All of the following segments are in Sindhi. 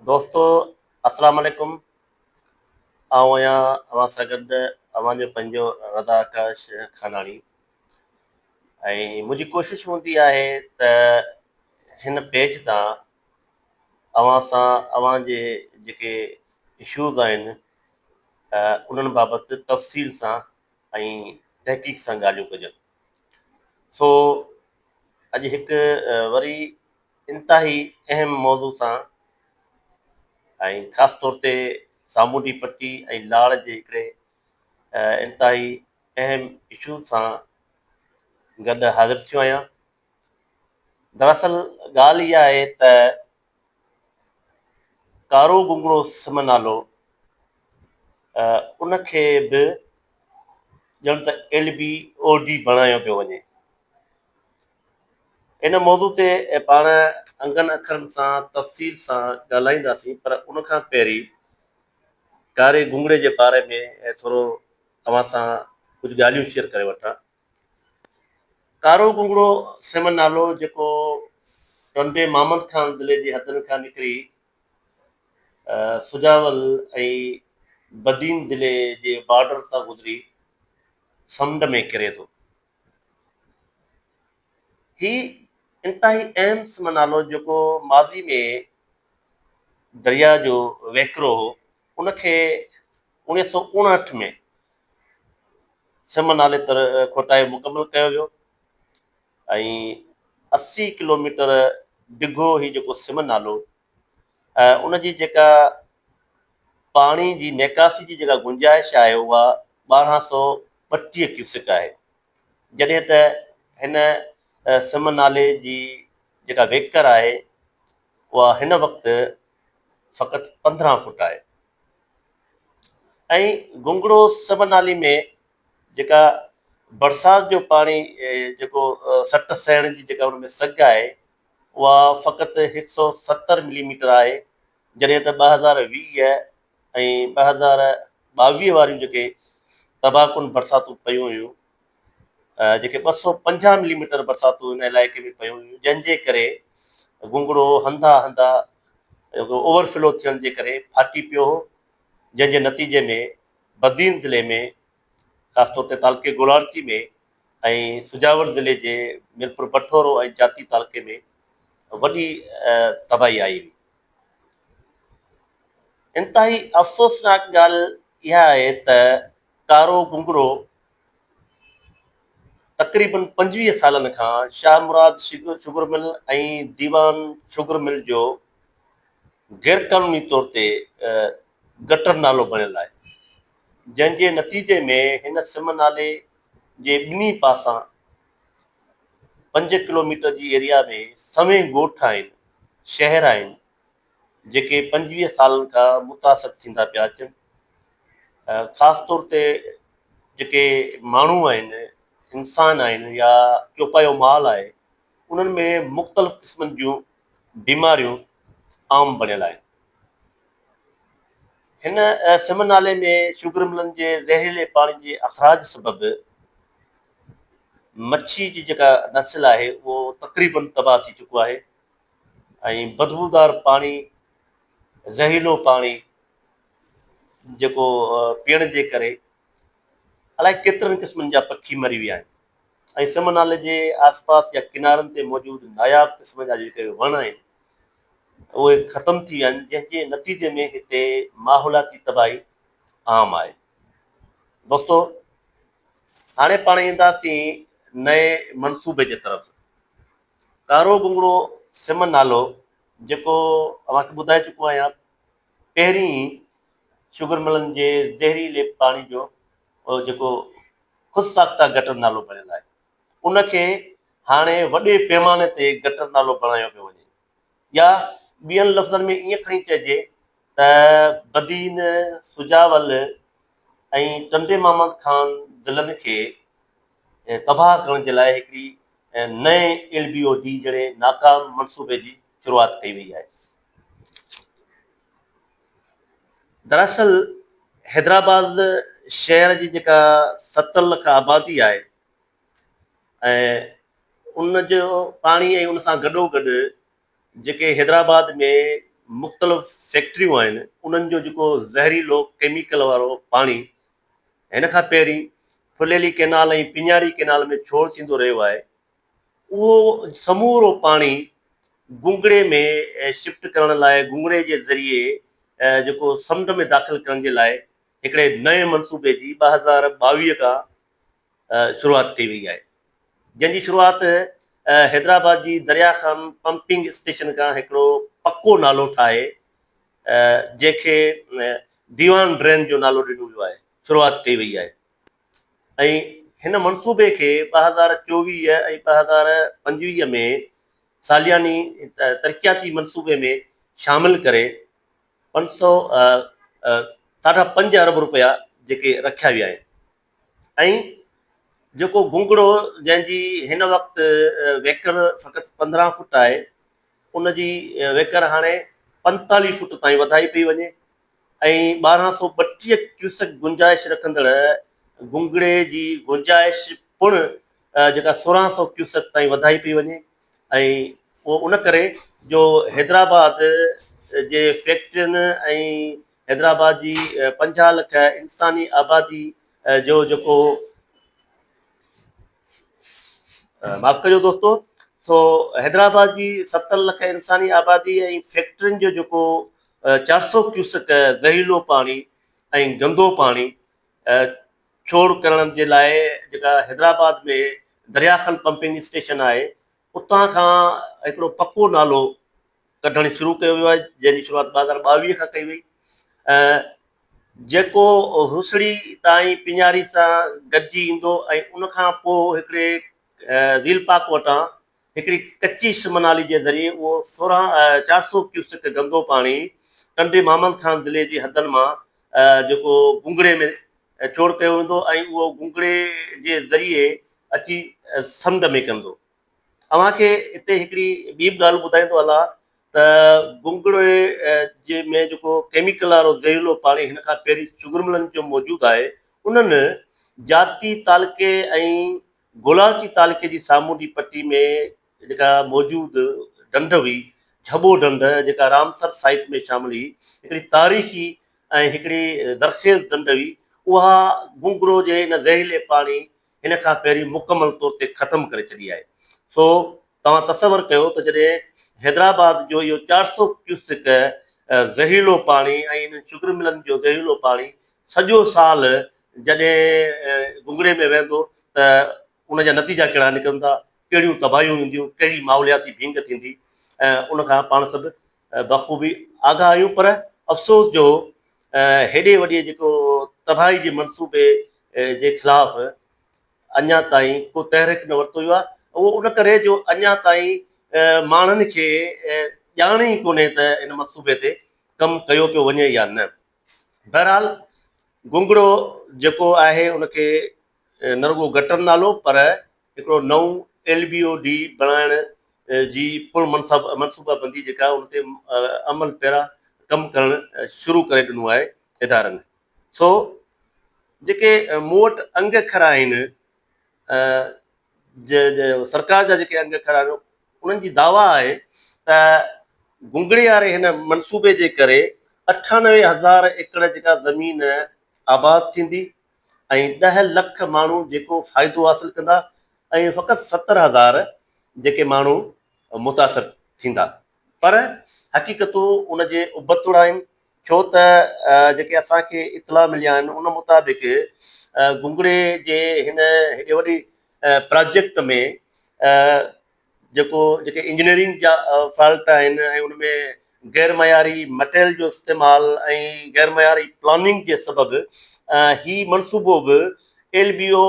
دوستو السلام عليڪم آئون آهيان اوهان سان گڏ اوهان جو پنهنجو رضا آڪاش خاناڻي ۽ منهنجي ڪوشش هوندي آهي ته هن پيج تان اوهان سان اوهان جي جيڪي اشوز آهن انهن بابت تفصيل سان ۽ تحقيق سان ڳالهيون ڪجن سو اڄ هڪ وري انتهائي اهم موضوع سان ۽ خاص طور تي سامونڊي پٽي ۽ لاڙ جي هڪڙي انتهائي اهم اشو سان گڏ حاضر ٿيو آهيان دراصل ڳالهه اها آهي ته ڪارو گونگڙو سم نالو ان کي به ڄڻ ته ايل بي او ڊي بڻايو پيو وڃي. ان موضوع تي پاڻ انگن اکرن سان تفصيل سان ڳالهائينداسين پر ان کان پهرين ڪاري گونگڙي جي باري ۾ ٿورو اوهان سان ڪجهه ڳالهيون شيئر ڪري وٺان. ڪارو ڪنگڙو سم نالو جيڪو ٽنڊي محمد خان ضلعي جي حدن کان نڪري سجاول ۽ بدين ضلعي جي بارڊر تان گذري سمنڊ ۾ ڪري ٿو. هي انتهائي اهم سم نالو جيڪو ماضي ۾ درياء جو وهڪرو هو ان کي اڻيهه سؤ اڻهٺ ۾ سم نالي تر کوٽائي مڪمل ڪيو ويو ۽ اسي ڪلوميٽر ڊگهو هي جيڪو سم نالو ۽ ان جي جيڪا پاڻي جي نيڪاسي جي جيڪا گنجائش آهي اها ٻارهن سؤ ٻٽيهه ڪيوسڪ آهي جڏهن ته هن سم نالي جي جيڪا ويڪر آهي اها هن وقت فقط پندرهن فٽ آهي ۽ گنگڙو سب نالي ۾ جيڪا برسات جو پاڻي جيڪو سٽ سهڻ جي جيڪا ان ۾ سگهه آهي اها فقط هڪ سؤ ستر ملي ميٽر آهي جڏهن ته ٻه هزار ويهه ۽ ٻه هزار ٻاويهه واريون جيڪي تباهه ڪن برساتون پيون هيون جيڪي ٻه سؤ پنجاهه ملي ميٽر برساتون ان علائقي ۾ پيون هيون جنهن جي ڪري گونگڙو هنڌا هنڌا اوور فلو ٿيڻ جي ڪري ڦاٽي پيو هو جنهن جي نتيجي ۾ بدين ضلعي ۾ خاص طور تي تعلقي گولاڙچي ۾ ۽ سجاول ضلعي جي ميرپور بٺورو ۽ جاتي تعلقي ۾ وڏي تباهي آئي هئي انتهائي افسوسناڪ ڳالهه اها آهي ته ڪارو گونگرو تقريباً پنجويهه سالن کان Shah Murad sugar mill ۽ Diwan sugar mill جو غيرقانوني طور تي گٽر نالو بڻيل آهي، جنهن جي نتيجي ۾ هن سم نالي جي ٻنهي پاسان پنج ڪلوميٽر جي ايريا ۾ سوين ڳوٺ آهن، شهر آهن، جيڪي پنجويهه سالن کان متاثر ٿيندا پيا اچن ۽ خاص طور تي جيڪي ماڻهو آهن انسان آهن يا چوپايو مال آهي انهن ۾ مختلف قسمن جون بيماريون عام بڻيل آهن هن سم نالي ۾ شوگر ملن جي زهريلي پاڻي جي اخراج سبب مڇي جي جيڪا نسل آهي اهو تقريبن تباهه ٿي چڪو آهي ۽ بدبودار پاڻي، زهريلو پاڻي جيڪو پيئڻ جي ڪري الائي ڪيترن قسمن جا پکي مري ويا آهن ۽ سم نالي جي آس پاس يا ڪنارن تي موجود ناياب قسم جا جيڪي وڻ آهن اهي ختم ٿي ويا آهن جنهن جي نتيجي ۾ هتي ماحولياتي تباهي عام آهي. دوستو هاڻي پاڻ اينداسين نئين منصوبي جي طرف. ڪارو بونگڙو سم نالو جيڪو اوهان کي ٻڌائي چڪو آهيان پهرين ئي شگر ملن جي زهريلي پاڻي جو جيڪو خود ساخته گٽر نالو بڻيل آهي ان کي هاڻي وڏي پيماني تي گٽر نالو بڻايو پيو وڃي يا ٻين لفظن ۾ ائين کڻي چئجي ته بدين، سجاول ۽ ٽنڊي محمد خان ضلعن کي تباهه ڪرڻ جي لاء هڪڙي نئين ايل بي او ڊي جهڙي ناڪام منصوبي جي شروعات ڪئي وئي آهي. دراصل حيدرآباد شهر جي جيڪا ستر لک آبادي آهي ۽ ان جو پاڻي ۽ ان سان گڏو گڏ جيڪي حيدرآباد ۾ مختلف فيڪٽريون آهن انهن جو جيڪو زهريلو ڪيميڪل وارو پاڻي هن کان پهرين ڦليلي ڪئنال ۽ پڃاري ڪئنال ۾ ڇوڙ ٿيندو رهيو آهي، اهو سمورو پاڻي گونگڙي ۾ شفٽ ڪرڻ لاء گونگڙي جي ذريعي جيڪو سمنڊ ۾ داخل ڪرڻ جي لاء هڪڙي نئين منصوبي جي ٻه هزار ٻاويهه کان شروعات ڪئي وئي آهي جنهن جي شروعات حيدرآباد جي دريا خان پمپنگ اسٽيشن کان هڪڙو پڪو نالو ٺاهي جنهن کي ديوان ڊرين جو نالو ڏنو ويو آهي شروعات ڪئي وئي آهي ۽ هن منصوبي کي ٻه هزار چوويهه ۽ ٻه هزار پنجويهه ۾ سالياني ترقياتي منصوبي ۾ شامل ڪري پنج سؤ ساڍا پنج ارب روپيا جيڪي رکيا ويا آهن ۽ جيڪو گونگڙو جنهن جي هن وقت ويڪر فقط پندرهن فوٽ آهي ان جي ويڪر هاڻي پنتاليهه فوٽ تائين وڌائي پئي وڃي ۽ ٻارهن سؤ ٻٽيهه ڪيوسڪ گنجائش رکندڙ گونگڙي جي گنجائش پڻ جيڪا سورهن سؤ ڪيوسڪ تائين وڌائي پئي وڃي ۽ اهو ان ڪري جو حيدرآباد جي فيڪٽرين ۽ حيدرآباد جي پنجاهه لک انساني آبادي جو جيڪو معاف ڪجو دوستو سو حيدرآباد جي ستر لک انساني آبادي ۽ فيڪٽرين جو جيڪو چار سو ڪيوسڪ زهريلو پاڻي ۽ گندو پاڻي ڇوڙ ڪرڻ جي لاء جيڪا حيدرآباد ۾ درياخل پمپنگ اسٽيشن آهي اتان کان هڪڙو پڪو نالو ڪڍڻ شروع ڪيو ويو آهي جنهن جي شروعات ٻه هزار ٻاويهه کان ڪئي وئي ۽ جيڪو هوسڙي تائين پڃاري سان گڏجي ايندو ۽ ان کان پوء هڪڙي ذيل پاڪ وٽان هڪڙي ڪچي سم نالي جي ذريعي اهو سورهن چار سؤ ڪيوسڪ گندو پاڻي ٽنڊي محمد خان ضلعي جي حدن مان جيڪو بونگڙي ۾ چور ڪيو ويندو ۽ اهو گونگڙي جي ذريعي اچي سمنڊ ۾ ڪندو. اوهان کي هتي هڪڙي ٻي به ڳالهه ٻڌائيندو هلا ته گونگڙي جي ۾ جيڪو ڪيميڪل وارو زهريلو پاڻي هن کان پهرين چگرملن جو موجود آهي انهن جاتي تعلقي ۽ گولاچي تعلقي جي سامونڊي پٽي ۾ جيڪا موجود ڍنڍ هئي، جهٻو ڍنڍ، جيڪا رامسر سائيٽ ۾ شامل هئي، هڪڙي تاريخي ۽ هڪڙي زرخيز ڍنڍ هئي، اها گونگرو جي ان زهريلي پاڻي هن کان پهرين مڪمل طور تي ختم ڪري ڇڏي آهي. سو توهان تصور ڪيو ته جڏهن حيدرآباد جو اهو چار سؤ ڪيوسڪ زهريلو پاڻي ۽ انهن شگر ملن جو زهريلو پاڻي سڄو سال جڏهن گهنگهڙي ۾ وهندو ته ان جا نتيجا ڪهڙا نڪرندا، ڪهڙيون تباهيون اينديون، ڪهڙي ماحولياتي ڀينگ ٿيندي ۽ ان کان پاڻ سڀ بخوبي آگاهه آهيون پر افسوس جو هيڏي وڏي جيڪو تباهي جي منصوبي جي خلاف اڃا تائين ڪو تحرڪ نه ورتو ويو آهي اهو ان ڪري جو اڃا تائين ماڻهن کي ڄاڻ ئي ڪونهي ته ان منصوبي تي ڪم ڪيو پيو وڃي يا نه. بهرحال گونگڙو جيڪو آهي ان کي نه رڳو گٽر نالو پر هڪڙو نئون ايل بي او ڊي بڻائڻ جي پڻ منصوبه بندي جيڪا ان تي عمل پيرا ڪم ڪرڻ شروع ڪري ڏنو آهي ادارن سو جيڪي مون وٽ انگ اکر آهن سرڪار جا جيڪي انگ اکر آهن انهن جي دعويٰ آهي ته گونگڙي واري هن منصوبي جي ڪري اٺانوي هزار ايڪڙ جيڪا زمين آباد ٿيندي ۽ ڏهه لک ماڻهو جيڪو فائدو حاصل ڪندا ۽ فقط ستر هزار جيڪي ماڻهو متاثر ٿيندا پر حقيقتون ان جي ابتڙ آهن ڇو ته جيڪي اسان کي اطلاع مليا آهن ان مطابق گونگڙي جي هن هيڏي وڏي پراجيڪٽ ۾ جيڪو جيڪي انجنيئرنگ جا فالٽ آهن ۽ ان ۾ غير معياري مٽيريل جو استعمال ۽ غير معياري پلاننگ جي سبب هي منصوبو به ايل بي او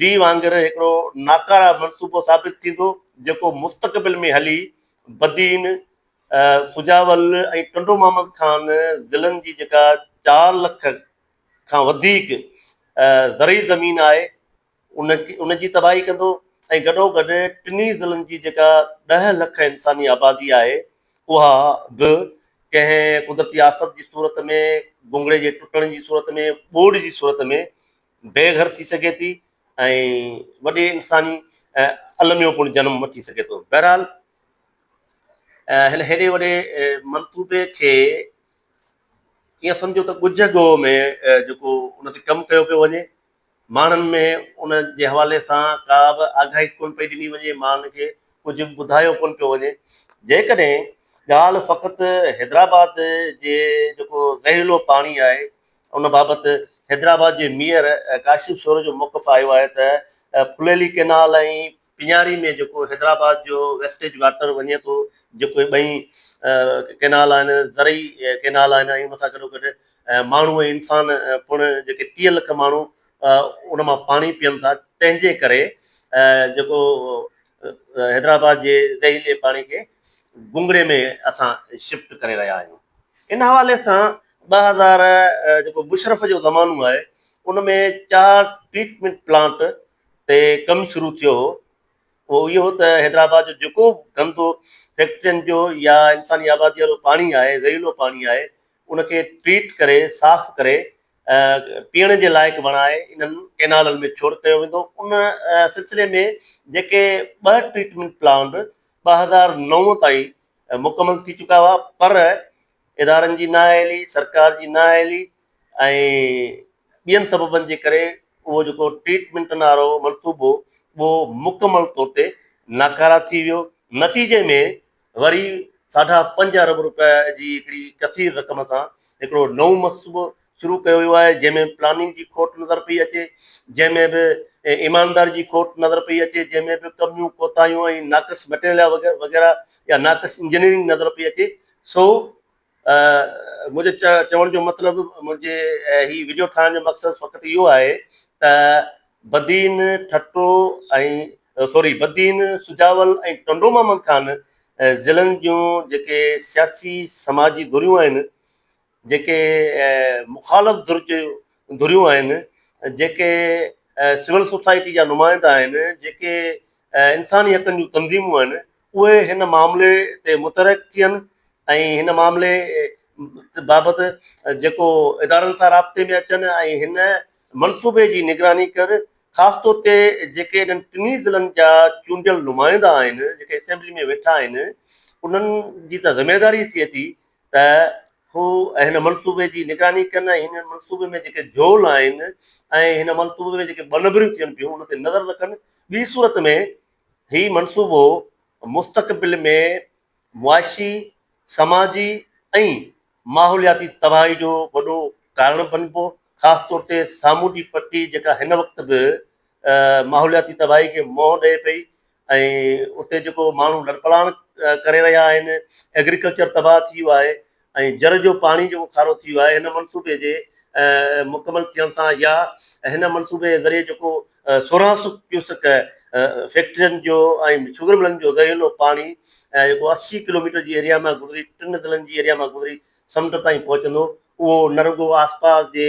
ڊي وانگر هڪڙو ناڪاره منصوبو ثابت ٿيندو جيڪو مستقبل ۾ هلي بدين سجاول ۽ ٽنڊو محمد خان ضلعن جي جيڪا چار لک کان وڌيڪ زرعي زمين آهي ان جي تباهي ڪندو ۽ گڏو گڏ ٽنهي ضلعن جي جيڪا ڏهه لک انساني آبادي آهي اها به ڪنهن قدرتي آفت جي صورت ۾ گونگڙي جي ٽٽڻ جي صورت ۾ ٻوڏ جي صورت ۾ بي گهر ٿي سگهي ٿي ۽ وڏي انساني الميو پڻ جنم وٺي سگهي ٿو بهرحال هن هيڏي وڏي منطوبي کي ائين سمجهيو ته ڳجهه ڳوهه ۾ جيڪو ان تي ڪم ڪيو پيو وڃي، ماڻهن ۾ ان جي حوالي سان ڪا به آگاهي ڪونه پئي ڏني وڃي، ماڻهن کي ڪجهه به ٻڌايو ڪونه پيو وڃي. جيڪڏهن ڳالهه فقط حيدرآباد جي جيڪو زهريلو پاڻي آهي، ان بابت حيدرآباد جي ميئر ڪاشف شورو جو موقف آيو آهي ته ڦليلي ڪئنال ۽ پيڃاري ۾ جيڪو حيدرآباد جو ويسٽيج واٽر وڃي ٿو، جيڪو اهي ٻئي ڪئنال آهن، زرعي ڪئنال آهن ۽ ان سان گڏوگڏ ماڻهو ۽ انسان پڻ جيڪي ٽيهه لک ماڻهو ان مان پاڻي پيئن ٿا، تنهن جي ڪري جيڪو حيدرآباد جي زهريلي پاڻي کي گونگڙي ۾ اسان شفٽ ڪري رهيا آهيون. ان حوالي سان ٻه هزار جيڪو مشرف جو زمانو آهي، ان ۾ چار ٽريٽمينٽ پلانٽ تي ڪم شروع ٿيو هو اهو اهو هو ته حيدرآباد جو جيڪو به گندو فيڪٽرين جو يا انساني آبادي وارو پاڻي آهي زهريلو پاڻي آهي ان کي ٽريٽ ڪري صاف ڪري پيئڻ جي لائق بڻائي انهن ڪينالن ۾ ڇوڙ ڪيو ويندو ان سلسلي ۾ جيڪي ٻه ٽريٽمينٽ پلانٽ ٻه هزار نو تائين مڪمل ٿي چڪا هئا پر ادارن جي نااهلي سرڪار جي نااهلي ۽ ٻين سببن جي ڪري اهو جيڪو ٽريٽمينٽ نارو منصوبو اهو مڪمل طور تي ناڪاره ٿي ويو، نتيجي ۾ وري ساڍا پنج ارب روپيه جي هڪڙي ڪثير رقم سان هڪڙو نئون منصوبو شروع ڪيو ويو آهي جنهن ۾ پلاننگ جي کوٽ نظر پئي اچي جنهن ۾ به ايمانداري جي کوٽ نظر پئي اچي جنهن ۾ به ڪميون ڪوتاهيون ۽ ناقص مٽيريل وغيره يا ناقص انجنيئرنگ نظر پئي اچي سو منهنجي چوڻ جو مطلب منهنجي هي ويڊيو ٺاهڻ جو مقصد فقط اهو آهي ته بدين ٺٽو ۽ سوري بدين سجاول ۽ ٽنڊو محمد خان ضلعن جون جيڪي سياسي سماجي ڌريون آهن جيڪي مخالف ڌر جي ڌريون آهن جيڪي سول سوسائٽي جا نمائندا آهن جيڪي انساني حقن جون تنظيمون آهن اهي هن معاملي تي متحرڪ ٿين ۽ هن معاملي بابت جيڪو ادارن سان رابطي ۾ اچن ۽ هن منصوبي جي نگراني ڪن، خاص طور تي جيڪي انهن ٽنهي ضلعن جا چونڊيل نمائندا آهن، جيڪي اسيمبلي ۾ ويٺا آهن، انهن جي ته ذميواري ٿئي ٿي ته هو هن منصوبي جي نگراني ڪن ۽ هن منصوبي ۾ جيڪي جهول آهن ۽ هن منصوبي ۾ جيڪي ٻنبريون ٿين پيون ان تي نظر رکن، ٻي صورت ۾ هي منصوبو مستقبل ۾ معاشي، سماجي ۽ ماحولياتي تباهي جو وڏو ڪارڻ بنبو، خاص طور تي سامونڊي پٽي جيڪا هن وقت به ماحولياتي تباهي کي منهن ڏئي پئي ۽ اتي جيڪو ماڻهو لڏپلاڻ ڪري رهيا آهن، ايگريڪلچر تباهه ٿي ويو آهي، ۽ جر جو پاڻي جيڪو کارو ٿي ويو آهي هن منصوبي جي مڪمل ٿيڻ سان يا هن منصوبي جي ذريعي جيڪو سورهن سؤ ڪيوسڪ فيڪٽرين جو ۽ شگر ملن جو زهريلو پاڻي جيڪو اسي ڪلوميٽر جي ايريا مان گذري ٽن ضلعن جي ايريا مان گذري سمنڊ تائين پهچندو اهو نه رڳو آسپاس جي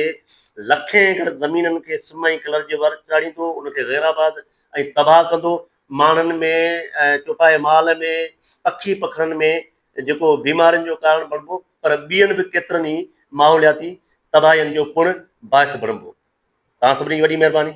لکين ايڪڙ زمينن کي سم ۽ ڪلر جي ور چاڙهيندو ان کي غيرآباد ۽ تباهه ڪندو ماڻهن ۾ ۽ چوپائي مال ۾ پکي پکڻن ۾ جيڪو بيمارين جو ڪارڻ بڻبو پر ٻين به ڪيترن ئي ماحولياتي تباهين جو پڻ باعث بڻبو. توهان سڀني جي وڏي مهرباني.